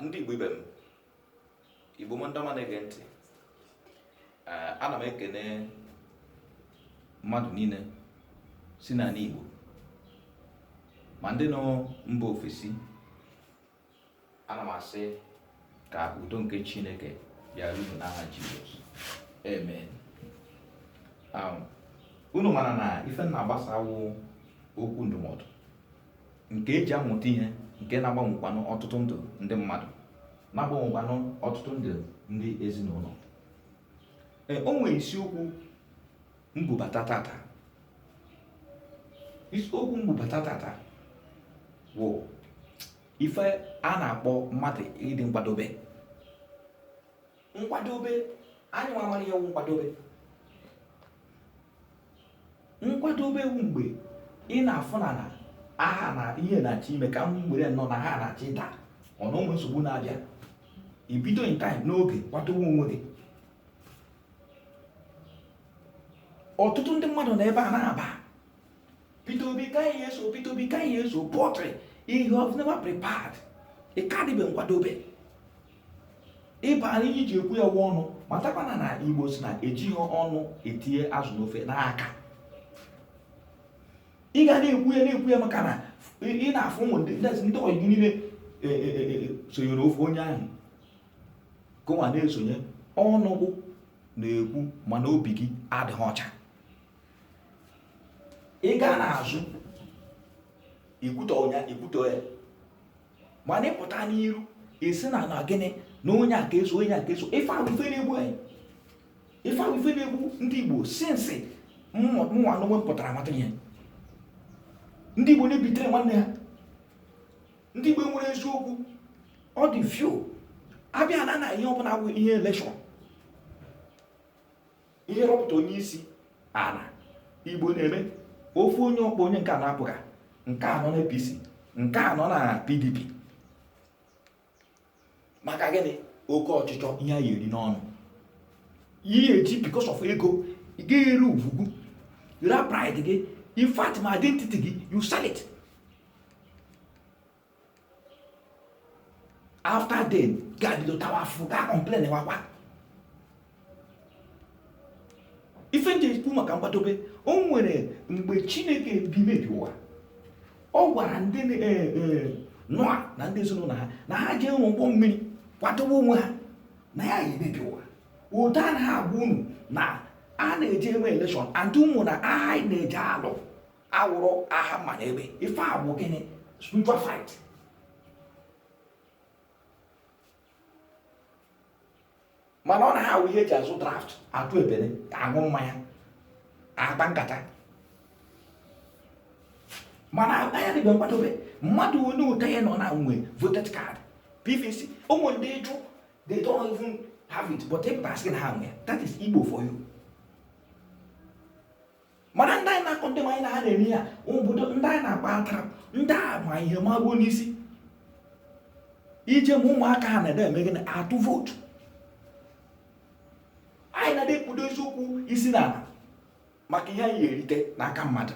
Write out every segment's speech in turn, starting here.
ndị Igbo ibe m Igbo m ndị ọma na-ege ntị ana m ekene mmadụ niile si n'ala Igbo ma ndị nọ mba ofesi ana m asị ka udo nke chineke bịara unu n'aha jizọs amen um, unu mara na ife m na-agbasa wụ okwu ndụmọdụ nke eji amụta ihe nke na-agbanwekwanụ ọtụtụ ndụ ndị mmadụ na-agbanwekwanụ ọtụtụ ndụ ndị ezinụlọ e, o nwere isiokwu m bubata tata isiokwu m bubata tata wụ ife a na-akpọ mmadụ ịdị nkwadobe nkwadobe anyị nwa mara ihe wụ nkwadobe nkwadobe wụ mgbe ị na-afụ na aha na ihe na-achọ ime ka m werenụ na aha na-achọ ịda ọ na o nwere nsogbu na-abịa i bido in time n'oge kwadowe onwe gị ọtụtụ ndị mmadụ na ebe a na-aba Peter Obi ka anyị eso Peter Obi ka anyị eso but you have never prepared ị ka dịbe nkwadobe ị ma na ihe i ji ekwu ya wụ ọnụ matakwana na igbo si na ejighị ọnụ etinye azụ n'ofe n'aka ị ga na-ekwu ya na-ekwu ya maka na ị na-afụ ebe ndị ọyị gị niile e, e, e, sonyere ofe onye ahụ gụnwa na-esonye ọnụ gị na-ekwu mana obi gị adịghị ọcha ị gaa n'azụ ị kwutọ ya ị kwutọ ya mana ị pụta n'iru ị sị na na gịnị na onye a ka eso onye a ka eso ife a wụ ife na-egbu anyị ife a wụ ife na-egbu ndị Igbo since mụnwa n'onwe m pụtara mata ihe ndị Igbo na-ebetray nwanne ha ndị igbo nwere eziokwu ọ dị few a bịa na na ihe ọbụla bụ ihe election ihe ịrọpụta onye isi ala igbo na-eme ofu onye ọkpọ onye nke a na-apụga nke a nọ na APC nke a nọ na PDP maka gịnị oke ọchịchọ ihe ị ya-eri n'ọnụ ihe eji because of ego ị ga-eri ugwu gị ra pride gị in fact ma identity gị you sell it after then ga-abido tawa afụ ga complain wakwa ife m ji ekwu maka nkwadobe o nwere mgbe chineke bimebi ụwa ọ gwara ndị e, e, nọa na ndị ezinụlọ ha na ha jee rụọ ụgbọ mmiri kwadobe onwe ha na ya ya-emebi ụwa ụda na ha agwa unu na a na-eje enwe elekshọn and ụmụnna aha anyị na-eje alụ awụrọ aha mma na egbe ife a bụ gịnị spiritual fight mana ọ na-awụ ihe eji azụ draft atụ ebere aṅụ mmanya akpa nkata mana akpa ya dịbe nkwadobe mmadụ onye ụta ya nọ na nwe voters card pvc o nwe ndị ị jụọ they don't even have it but ị pụta a sị na ha nwe ya that is igbo for you mana ndị anyị na-akọ ndị anyị na ha na-eme ya obodo ndị anyị na-agba atara ndị a ma ihe magbuo n'isi ị jee ma ụmụaka ha na-ede eme gịnị atụ vootu anyị na-ede ekpudo eziokwu isi n'ala maka ihe anyị ya-erite n'aka mmadụ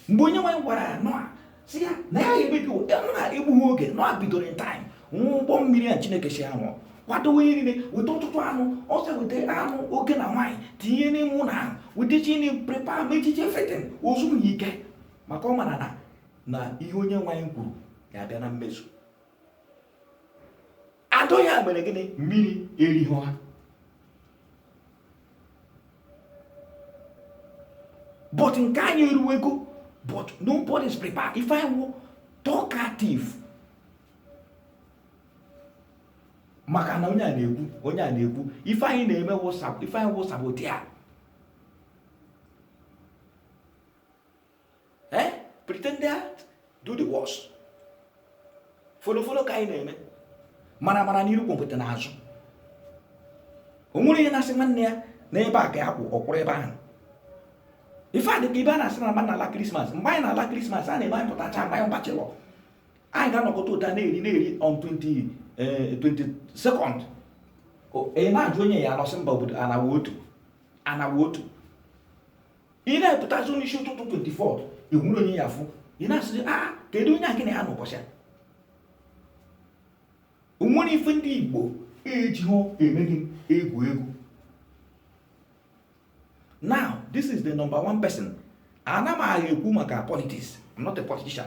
mgbe onyenwe anyị gwara nọa sị ya na ya ya-emebi ụwa n'egbughị oge nọa bidoro in time rụọ ụgbọ mmiri a chineke sị ya rụọ kwadowe ihe niile weta ọtụtụ anụ ọsọ weta anụ oke na nwaanyị tinye n'ime ụlọ ahụ weta chi na prepare mechichie everything o zuwe ike maka ọ mara na na ihe onyenwe anyị kwuru ga-abịa na mmezu and ọ ya mere gịnị mmiri erighị ha but nke anyị eruwego but nobody is prepared ife anyị wụ talkative maka na onye a na-ekwu onye a na-ekwu ife anyị na-eme wụ sabo ife anyị wụ saboteur eh? pretender do the worst folofolo ka anyị na-eme mara mara n'iru gwompiti n'azụ o nwerọ onye na-asị nwanne ya na ebe a ka ya kwụ ọ kwụrụ ebe ahụ ife a dị ka ibe a na-asị na mmadụ na-ala krismas mgbe anyị na-ala krismas a na-eme anyị pụtacha mgbe anyị wụ bachelor anyị ga-anọkọta ụta na-eri na-eri on 20 eh, second ị na-ajụ onye ya-ana ọ sị mba obodo ana wụ otu ana wụ otu ị na-apụtazi n'isi ụtụtụ 24 o nwerọ onye ị ya-afụ ị na-asịzi a ah, kedu onye a gị na ya nọ ụbọchị a o nwerọ ife ndị igbo ejihọ emeri egwu egwu now this is the number one person ana m aha ekwu maka politics I'm not a politician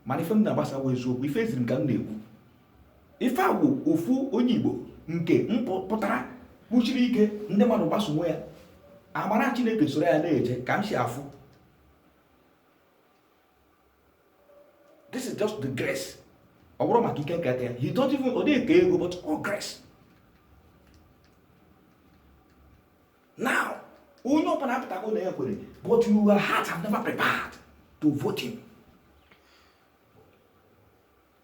mana ife m na-agbasa wụ eziokwu ife e ziri m ka m na-ekwu ife a bụ ofu onye igbo nke pụtara kwụsiri ike ndị mmadụ gbasowe ya amara chineke soro ya na-eje ka m si afụ this is just the grace ọ bụrụ maka ike nketa ya he don't even ọ dịghị ka ego but all grace now onye ọbụla apụtago na ya kwere but your heart have never prepared to vote him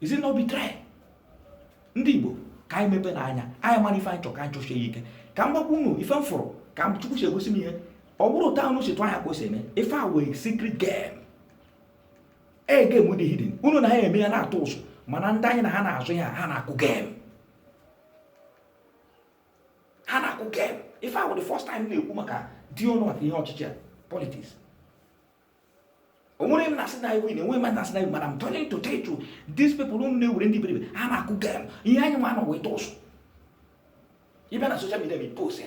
is it not betray ndị igbo ka anyị mepeenụ anya anyị mara ife anyị chọrọ ka anyị chọsie ya ike ka m gwakwa unu ife m fụrụ ka chukwu si egosi m ihe ọ bụrọ otu unu si tụ anya ka o si eme ife a wụ secret game a game dị hidden unu na ha eme ya na-atụ ụzụ mana ndị anyị na ha na-azọ ya ha na-akụ game ha na-akụ game ife a wụ the first time na-ekwu maka di ọnụ maka ihe ọchịchị a politics onwere m na-asị na anyị win enweghị mmadụ na-asị na anyị mana i'm trying to tell you these people unu na-ewere ndị iberibe ha na-akụ game ihe anyị nwa nọ wee tụ ụzụ ị bịa na social media i post ya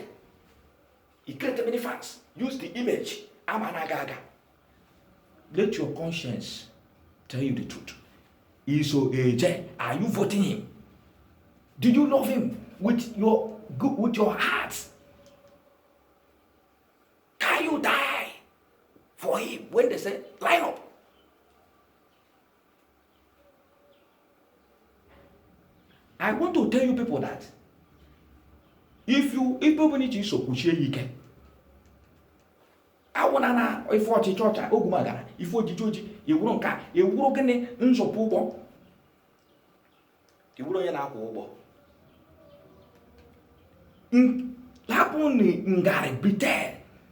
i create many fans use the image ama na-aga aga let your conscience tell you the truth iso eje are you voting him do you love him with your good with your heart Can you die for him when they say line up? I want to tell you people that if you if people need to so kwụsie ike. awụna na ife ọchịchị ọcha ogumagara ife ojiji oji ị wụrụ nka ị wụrụ gịnị nzọpụ ụgbọ ị bụrụ onye na-akwọ ụgbọ hapụnụ ngarị bribe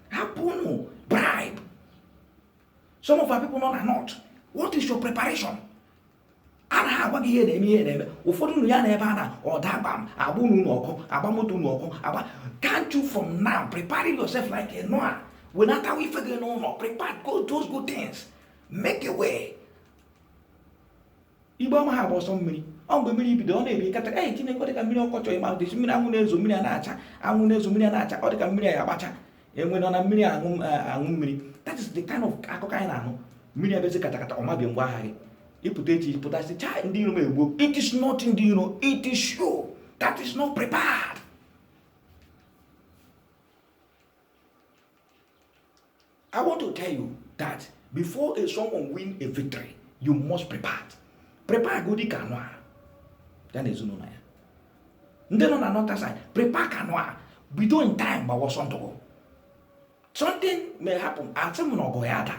hapụnụ bribe some of our people nọ na north what is your preparation a na agwa gị ihe na-eme ihe na-eme ụfọdụ unu ya-anọ ebe a na ọ daa gbam a gbaa ụnọ unu ọkụ a gbaa moto unu ọkụ agba can't you from now prepare yourself like a noah wenatawa ife gị n'ụnọ prepare go those good things make a way mgbe ọma a na-agba ọsọ mmiri ọ mgbe mmiri bido ọ na-ebi kata ee Chineke ọ dịka mmiri ọkọchọ ịma dịsi mmiri anwụ na-ezo mmiri a na-acha anwụ na-ezo mmiri a na-acha ọ dịka mmiri a ya agbacha enwe nọ na mmiri aṅụ aṅụ mmiri that is the kind of akụkọ anyị na-anụ mmiri abịazi katakata ọ mebie ngwa ahịa gị ị pụta echi pụta sị chai ndị iro m egbuo it is not ndị iro it is you that is not prepared I want to tell you that before a someone win a victory, you must prepare. Prepare godi ka Noah ya na ezinụlọ ya. Ndị nọ na north side, prepare ka Noah bido in time gbawa ọsọ ndụ gị. Something may happen, asị m na ọgụ ya-ada,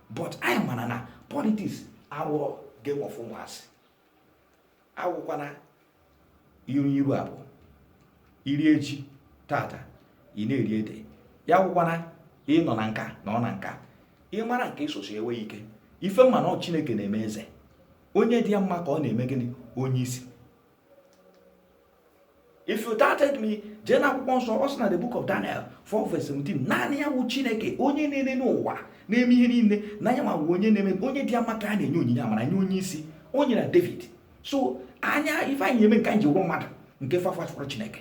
but anyị mara na politics awụrọ game of ụmụazị. awụkwana iru iru abụọ i rie ji tata ị na-eri ede ya wụkwana ị nọ na nka na ọ na nka ị mara nke ịsosi enwe ike ife m ma na ọ chineke na-eme eze onye dị ya mma ka ọ na-eme gịnị onye isi if you doubted me jee na akwụkwọ nsọ ọ sị na the book of Daniel 4 verse 17 naanị ya wụ Chineke onye na-ene n'ụwa na-eme ihe niile na ya ma wụ onye na-eme onye dị ya mma ka a na-enye onyinye amara nye onye isi o nyere David so anya ife anyị eme nke anyị ji wụrụ mmadụ nke fọ a hafụrụ Chineke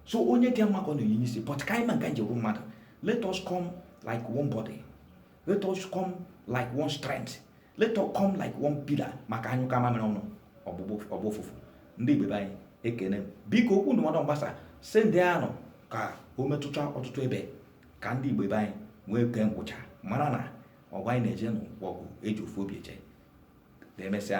so onye dị ya mma ka ọ na-enye isi but ka anyị mee nke anyị ji wụrụ mmadụ let us come like one body let us come like one strength let us come like one pillar maka a nyụkọọ mamịrị ọnụ ọ gbọọ ụfụfụ ndị igbo be anyị ekene m biko okwu ndụmọdụ m gbasa sendie ya nụ ka o metụta ọtụtụ ebe ka ndị igbo be anyị nwee ike ngwụcha mara na ọgụ a anyị na-eje na ọ wụ ọgụ e ji ofu obi eje ka emesịa